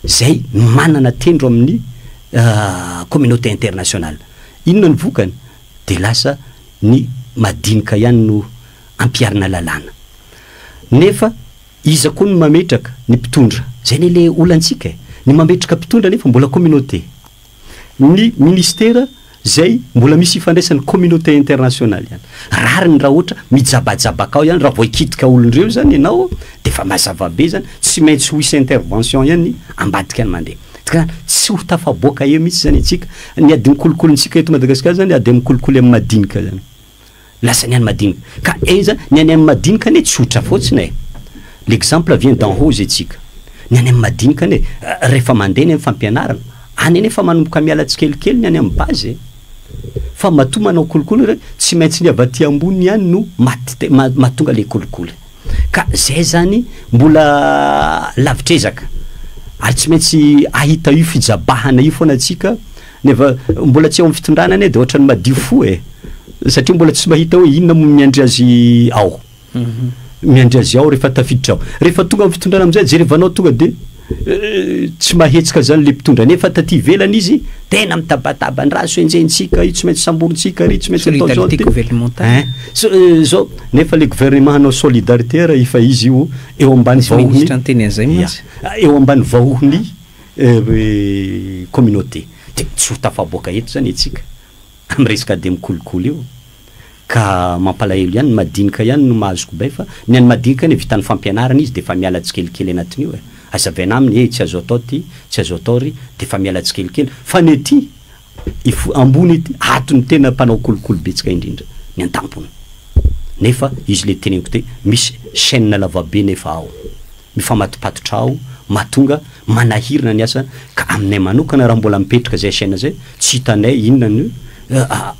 izay manana tendro amin'ny communauté internationale. Inona ny vokany? Dia lasa ny madinika ihany no ampiharina lalàna. Nefa iza koa no mametraka ny mpitondra? Izay anie le olantsika e! Ny mametraka mpitondra nefa mbola communauté. Ny ministera izay mbola misy ifandraisany communauté internationale ihany. Rariny raha ohatra mijabajabaka ao ihany, raha vao hikitika olon-dreo izany ianao dia efa mazava be izany, tsy maintsy ho hisy intervention ihany ambadika ny mandeha. Ka tsy ho tafaboaka eo mihitsy izany antsika. Ny adin'ny kolokolontsika eto Madagasikara izany ady amin'ny kolikoly amin'ny madinika izany. Lasa ny any madinika. Ka enza ny any am madinika anie tsotra fotsiny e! L'exemple vient d'en haut zay tsika. Ny any am madinika anie refa mandeha ny am fampianarana any anie efa manomboka miala tsikelikely ny any am base e! Fa matoa manao kolikoly re tsy maintsy ny avy aty ambony ihany no maty mahatonga le kolikoly. Ka zay zany mbola lavitr'ezaka. Ary tsy maintsy ahita io fijabahana io foana tsika. Nefa mbola tsy eo amin'ny fitondrana anie dia ohatran'ny madio fo e! Satria mbola tsy mahita hoe inona moa no miandry azy ao. Miandry azy ao rehefa tafiditra ao. Rehefa tonga amin'ny fitondrana amin'izay, jerevanao tonga dia tsy mahetsika izany ilay mpitondra. Nefa taty ivelany izy tena mitabataba, ny rà so enjehintsika, io tsy maintsy samborintsika ary io tsy maintsy atao izao. Solidarité gouvernementale. Ein! So- eh, Izao, nefa ilay gouvernement hanao solidarité raha efa izy io eo ambany Tsy vahohon'ny. ministra niteny an'izay Ia. mantsy. Eo ambany vahohon'ny communauté dia tsy ho tafaboaka eto izany isika amin'ny resaka dia mikolokolo io ka mampalahelo ihany, ny madinika ihany no mahazoko bay fa ny an'ny madinika anie vitan'ny fampianarana izy dia efa miala tsikelikely anatin'io e! Hazavaina aminy ee tsy azo atao ity, tsy azo atao ry, dia efa miala tsikelikely fa ny ety ifo ambony ety ato no tena mpanao kolokolo betsaka indrindra ny antampony nefa izy ilay teneniko teo misy chaine lavabe nefa ao ny famatopatotra aho mahatonga manahirana ny asa ka aminay manokana raha mbola mipetraka zay chaine zay tsy hitanay inona no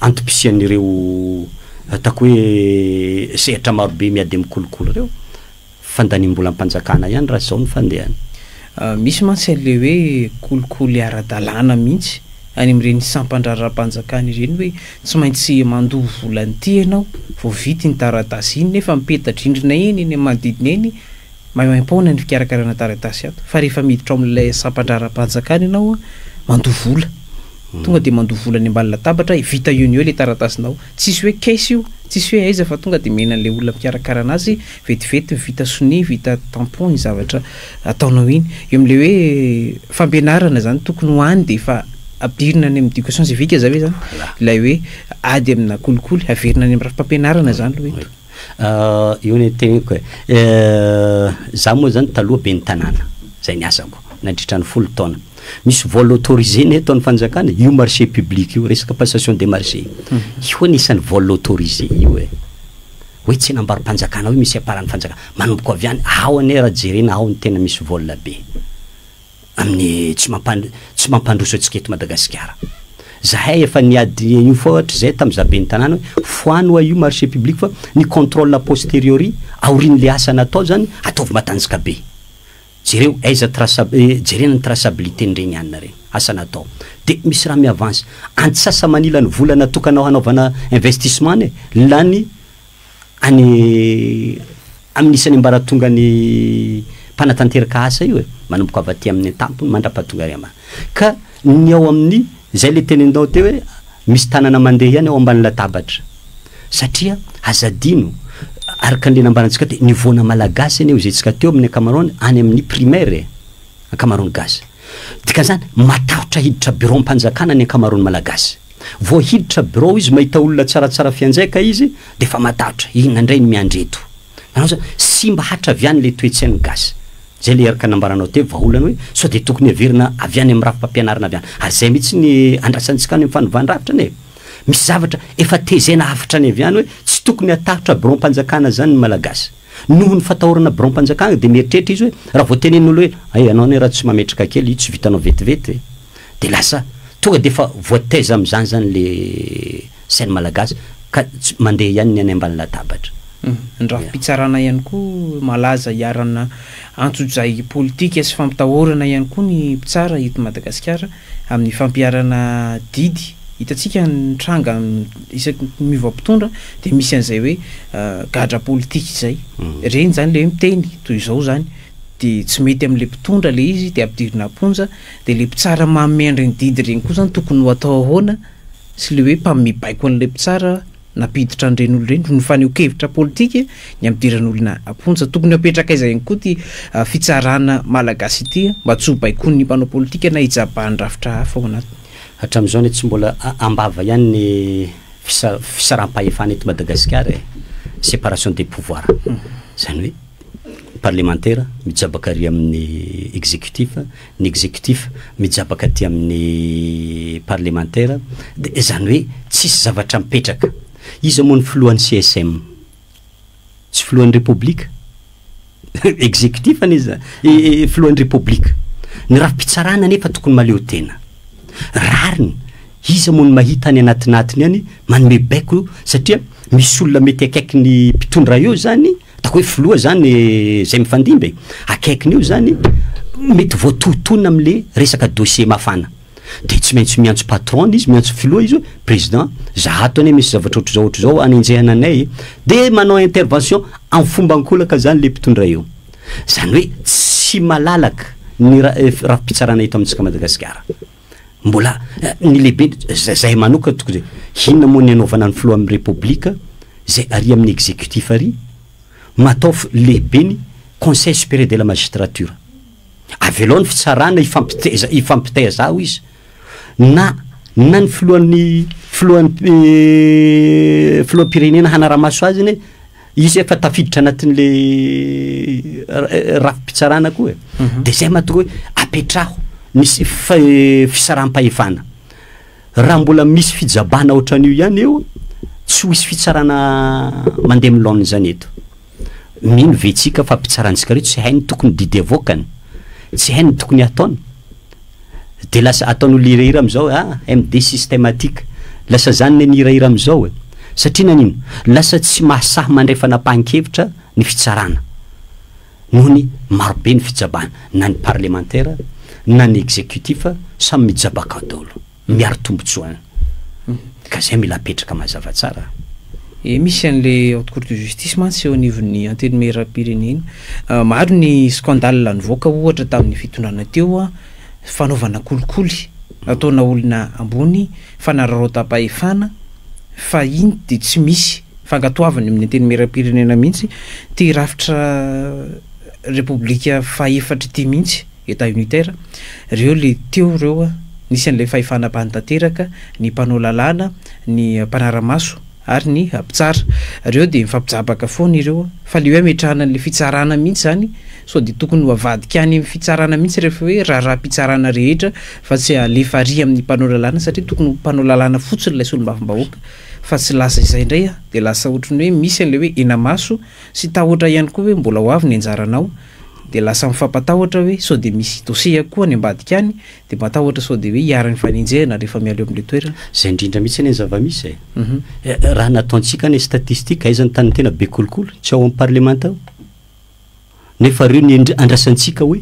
antom-pisian'ireo ataoko hoe sehatra marobe miady amin'ny kolikoly ireo. Fandaniam-bolam-panjakana ihany raha izao no fandehany. Misy mantsy an'ilay hoe kolikoly ara-dalàna mihitsy any amin'ireny sampan-draharaham-panjakana ireny hoe tsy maintsy mandoa vola an'ity ianao vao vita iny taratasy iny nefa mipeta-drindrina eny eny manodidina eny Maimaim-poana ny fikarakarana taratasy ato fa rehefa miditra ao amin'ilay sampan-draharaham-panjakana ianao, mandoa vola. Tonga dia mandoa vola any ambany latabatra dia vita eo no eo ilay taratasinao. Tsisy hoe caisse io, tsisy hoe aiza fa tonga dia omena an'ilay olona mikarakara an'azy vetivety vita sonia, vita tampon iny zavatra ataonao iny. Eo amin'ilay hoe fampianarana izany tokony ho any dia efa ampidirina any amin'ny éducation civique za ve izany ilay hoe ady amina kolikoly, averina any amin'ny rafi-pampianarana izany aloha eto. Io ny teniko e. Za moa zany taloha ben'ny tanàna, zay ny asako nandritra ny folo taona. Misy vol autorisé ny ataon'ny fanjakana, io marché public io, resaka passation des marchés io hono isan'ny vol autorisé io e. Hoe tsenam-barom-panjakana hoe misy aparan'ny fanjakana. Manomboka avy any, ao anie raha jerena ao no tena misy vol be. amin'ny tsy mampan tsy mampandroso antsika eto Madagasikara. Zahay efa niady an'io foa hatrizay tamin'ny za ben'ny tanàna hoe foano hoa io marché public fa ny contrôle a posteriori aorian'le asa natao zany ataovy matanjka be. Jereo aiza traça jerena ny traçabilité n'ireny anona reny, asa natao. Dia misy raha mi-avance. Antsasa-manila ny vola natokanao hanaovana investissement anie lany any amin'ny isan'ny ambaratongan'ny mpanatanteraka asa io e, manomboka avy aty amin'ny an-tampony mandrapaha tonga ary ambany. Ka ny ao amin'ny, zay le teneninao teo hoe misy tanana mandeha ihany ao ambany latabatra. Satria aza adino, araka an'le nambarantsika teo, niveau-na malagasy anie hoy isika teo amin'ny ankamaroany any amin'ny primaire e, ankamaroan'ny gasy. Dikan'izany matahotra hiditra bureau-mpanjakana ny ankamaroan'ny malagasy. Vao hiditra birao izy mahita olona tsaratsara fianjaika izy dia efa matahotra, inona indray no miandry eto? Nanao izany, simba hatra avy any ilay toe-tsain'ny gasy. Izay ilay erika nambaranao teo, vahaolana hoe sao dia tokony heverina avy any amin'ny rafi-pampianarana avy any. Ary izay mihitsy ny andrasantsika any amin'ny fanovan-drafitra anie. Misy zavatra efa tezaina hafatra any avy any hoe tsy tokony hatahotra biraom-panjakana izany ny Malagasy. Noho ny fatahorana biraom-panjakana dia mieritreritra izy hoe raha vao tenenin'olona hoe hay ianao anie raha tsy mametraka kely io tsy vitanao vetivety ve? Dia lasa tonga dia efa voataiza amin'izany izany ilay scène malagasy ka tsy, mandeha ihany ny any ambany latabatra. Ny rafi-pitsarana ihany koa malaza hiarana antsojay politika sy fampitahorana ihany koa ny mpitsara eto Madagasikara amin'ny fampiharana didy. Hitantsika ny tranga isaky ny miova mpitondra dia misy an'izay hoe gadra politika izay. Ireny izany ilay hoe miteny toy izao izany dia tsy mety amin'ilay mpitondra ilay izy dia ampidirina am-ponja. Dia le mpitsara manome an'ireny didy ireny koa zany tokony ho atao ahoana sy le hoe mpanome baiko an'ilay mpitsara nampiditra an'ireny olona ireny no fanehoan-kevitra politika ny hampidiran'olona am-ponja. Tokony hapetraka aiza ihany koa ity fitsarana malagasy ity mba tsy ho baikoin'ny mpanao politika na hijabahan'ny rafitra hafa ao anatiny. Hatramin'izao anie tsy mbola am-bava ihany ny fisa- fisaraham-pahefana eto Madagasikara e! Séparation des pouvoirs. Izany hoe. Parlemantera mijabaka ary amin'ny executif, ny executif mijabaka aty amin'ny parlemantera, dia izany hoe tsisy zavatra mipetraka. Iza moa ny filohan'ny CSM? Tsy filohan'ny Repoblika? Executif anie izany, filohan'ny Repoblika. Ny rafi-pitsarana anefa tokony mahaleo tena. Rariny, iza moa no mahita any anatinatiny any manome baiko satria misy olona mety akaiky ny mpitondra eo izany, Ataoko hoe filoha izany izay mifandimby e! Akaikiny eo izany, mety voatohitohina amin'ilay resaka dossier mafana. Dia tsy maintsy miantso patron-ny izy, miantso filoha izy hoe président, izaho ato anie misy zavatra ohatr'izao ohatr'izao anenjehana anay e! Dia manao intervention amin'ny fomba an-kolaka izany ilay mpitondra eo. Izany hoe tsy malalaka ny rafi-pitsarana eto amintsika Madagasikara. Mbola ny lehibe za- zahay manokana tokony hoe, Inona moa ny anaovana ny filohan'ny Repoblika izay ary amin'ny executif ary? Mataovy lehibe ny Conseil supérieur de la magistrature. Avelao ny fitsarana hifampiteza hifampitaiza ao izy. Na na ny filohan'ny filohan'ny eh, filoham-pirenena hanara-maso azy ny Izy efa tafiditra anatin'le rafi-pitsarana koa e. Mhm. Dia izay mahatonga hoe apetraho ny fisaraham-pahefana. Raha mbola misy fijabana ohatran'io ihany eo, tsy ho hisy fitsarana mandeha amin'ny laoniny izany eto. Mino ve tsika fa mpitsarantsika ireo tsy hainy tokony didy avoakany, tsy hainy tokony hataony? de lasa ataony olona hirahira amizao ah MD systematique lasa zany ne ny hirahira amizao e satria nanino lasa tsy mahasahy mandray fanapahankevitra ny fitsarana noho ny marobe ny fijabana na ny parlemantera na ny executif samy mijabakao daolo. miaro tombotsoany ka zay mila apetraka mazava tsara. Ee misy an'le haute cour de justice mantsy eo anivon'ny antenimieram-pirenena. Ah, maro ny scandale nivoaka ohatra tamin'ny fitondrana teo an, fanaovana kolikoly nataona olona ambony, fanararaotam-pahefana, fa iny dia tsy misy fankatoavany amin'ny antenimieram-pirenena mihitsy, ity rafitra repoblika faha efatra ity mihitsy. Etat unitaire, reo le teo reo a, nisy an'ilay fahefana bany tanteraka, ny mpanao lalàna, ny mpanara-maso ary ny mpitsara. Reo dia mifampijabaka foana ireo a. Fa le hoe ametrahana an'ilay fitsarana mihitsy zany, sao dia tokony ho avadika any amin'ny fitsarana mihitsy rehefa hoe raharaham-pitsarana rehetra fa tsy alefa ary amin'ny mpanao lalàna satria tokony ho mpanao lalàna fotsiny ilay solombavambahoaka fa tsy lasa izay indray a, dia lasa ohatran'ny hoe misy an'ilay hoe henamaso sy tahotra ihany koa hoe mbola ho avy ny anjaranao dia lasa mifampatahotra hoe sao dia misy dossier koa any ambadika any, dia matahotra sao dia hoe hiharan'ny fanenjehana rehefa mialoha amin'ilay toerana. Izay indrindra mihitsy anie ny zava-misy e! Raha nataontsika anie statistique, aiza ny tanin'ny tena be kolikoly? Tsy ao amin'ny parlemanta ao? Nefa ireo ny andrasantsika hoe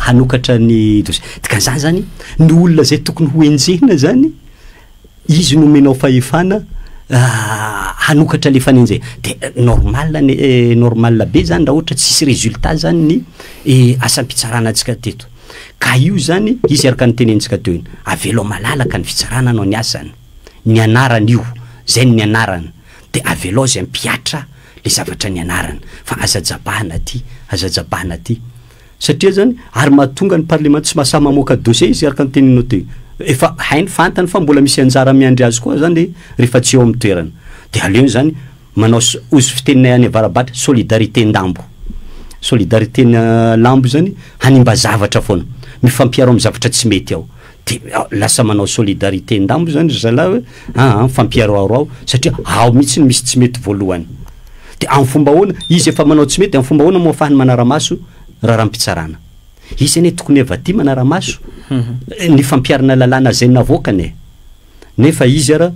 hanokatra ny dossier. Dikan'izany izany, ny olona izay tokony ho enjehina izany, Izy nomenao fahefana hanokatra le fanenjehana de normal anie e, normal be zany raha ohatra tsisy résultat zany ny asam-pitsarana antsika teto ka io zany izy araka ny tenentsika teo iny avelao malalaka ny fitsarana anao ny asany ny anarany io zay ny anarany de avelao zay mpihatra le zavatra ny anarany fa aza jabahana aty aza jabahana aty Satria zany, ary mahatonga ny parlement tsy mahasahy mamoaka dossier izy araka ny teninao teo. Efa hainy, fantany fa mbola misy anjara miandry azy koa zany rehefa tsy eo amin'ny toerana. Dia aleony zany manao ozy fiteninay any avarabatra, solidarité ndambo. Solidarité-na lambo zany hanimba zavatra foana. Mifampiaro amin'ny zavatra tsy mety ao. De lasa manao solidarité ndambo zany ry zalahy hoe aa mifampiharoharoao satria ao mihitsy no misy tsy mety voalohany. De amin'ny fomba ahoana, izy efa manao tsy mety de amin'ny fomba ahoana moa afahany manara-maso raharaham-pitsarana. Izy anie tokony efa tia manara-maso ny fampiharana lalàna zay navoakany e. Nefa izy ara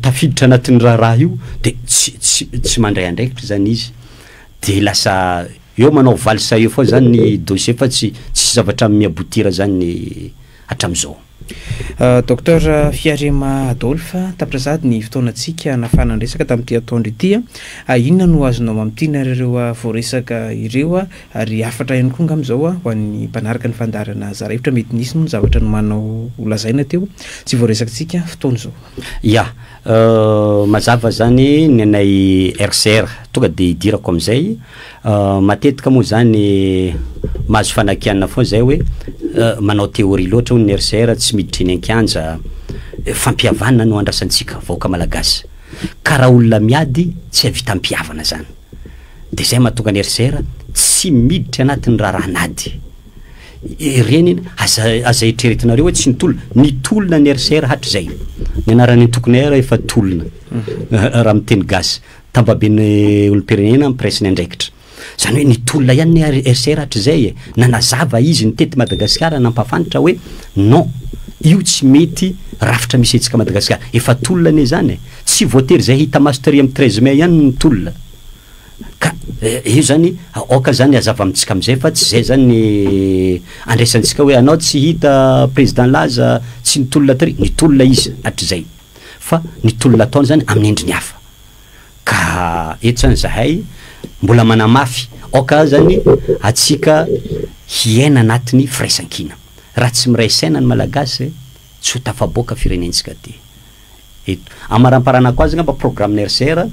tafiditra anatin'ny raharaha io de tsy tsy tsy mandray andraikitra zany izy de lasa Eo manao valsa eo foana zany ny dossier fa tsy tsisy zavatra mi aboutir zany hatramizao. Docteur Fiarema Adolphe, tapitrazady ny fotoanantsika hanafahana ny resaka tamin'ity antoandro ity. Inona no azonao mamintina ary ireo voaresaka ireo ary hafatra ihany koa angamba izao ho an'ny mpanaraka ny fandaharana Zara Hevitra? Mety nisy moa ny zavatra nomanao holazaina teo tsy voaresakitsika fotoana izao. Ya. Mazava zany ny anay RCR, tonga dia hidirako amin'izay, matetika moa zany mahazo fanakianana foana zay hoe manao théorie loatra hono ny RCR, tsy miditra eny an-kianja, fampihavana no andrasantsika vahoaka malagasy, ka raha olona miady tsy hahavita mpihavana zany, dia zay mahatonga ny RCR tsy miditra anatin'ny raharahan'ady. Ireny iny, aza aza eritreretinareo hoe tsy nitolona, nitolona ny RCR hatrizay. Ny anaran'ny antokonay ary efa tolona raha miteny gasy. Tambaben'ny olom-pirenena mpiray ny andraikitra. Izany hoe nitolona ihany ny RCR hatrizay e. Nanazava izy nitety Madagasikara nampafantra hoe non, io tsy mety rafitra misy antsika Madagasikara. Efa tolona anie izany e. Tsy voatery izay hita maso tery amin'ny treize mai ihany no tolona. Ka io zany aoka zany hazava amintsika amizay fa tsy zay zany ny andraisantsika hoe anao tsy hita président laza tsy nitolona tary, nitolona izy hatrizay fa ny tolona ataony zany amin'ny endriny hafa. Ka eto zany zahay mbola manamafy aoka azany atsika hiaina anatiny firaisankina. Raha tsy miray saina ny malagasy tsy ho tafaboaka firenentsika ty. eto. Amaramparanako azy angamba programme RCR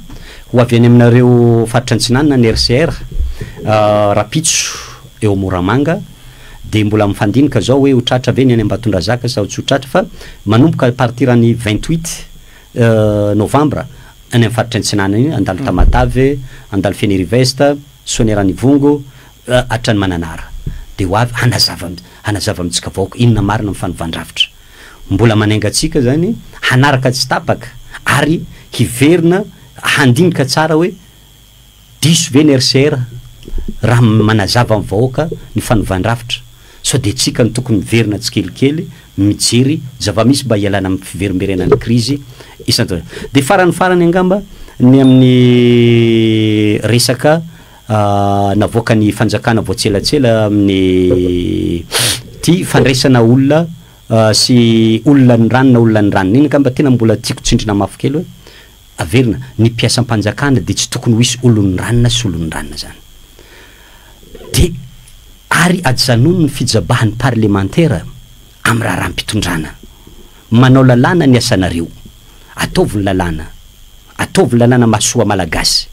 ho avy any aminareo faritra antsinanana ny RCR rapitso eo Moramanga dia mbola mifandinika zao hoe ho tratra ve ny any Ambatondrazaka sao tsy ho tratra fa manomboka à partir ny vingt huit novembre any amin'ny faritra antsinanana iny handalo Tamatave, handalo Fenirivest, Soanieranivongo hatrany Mananara dia ho avy hanazava hanazava amintsika vahoaka inona marina ny fanovandravitra. Mbola manainga antsika izany hanaraka tsy tapaka ary hiverina handinika tsara hoe diso ve ny RCR raha manazava amin'ny vahoaka ny fanovàn-drafitra sao dia antsika no tokony miverina tsikelikely mijery zava-misy mba hialana amin'ny fiverimberenan'ny krizy isan-taona. Dia farany farany angamba ny amin'ny resaka navoakan'ny fanjakana vao tselatsela amin'ny ity fandraisana olona sy olona ny rano na olona ny ranona iny angamba tena mbola tiako tsindrina mafy kely hoe averina ny mpiasam-panjakana dia tsy tokony ho hisy olon'ny ranona sy olon'ny ranona zany dia ary ajanony ny fijabahan'ny parlemantera amin'ny raharaham-pitondrana. Manao lalàna ny asanareo. Ataovy ny lalàna. Ataovy ny lalàna mahasoa Malagasy.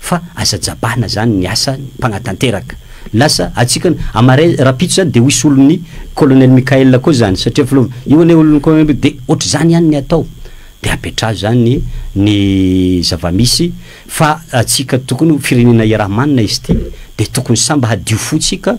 Fa aza jabahana zany ny asa ny mpanatanteraka. Lasa atsika amaray rapitso zany de ho hisy olon'ny Colonel Michael koa zany satria filoha io anie olon'ny Colonel Michael de otrzany ihany ny atao. De apetraho zany ny zavamisy fa atsika tokony firenena iaraha-manina izy ty de tokony samba hadio fo tsika.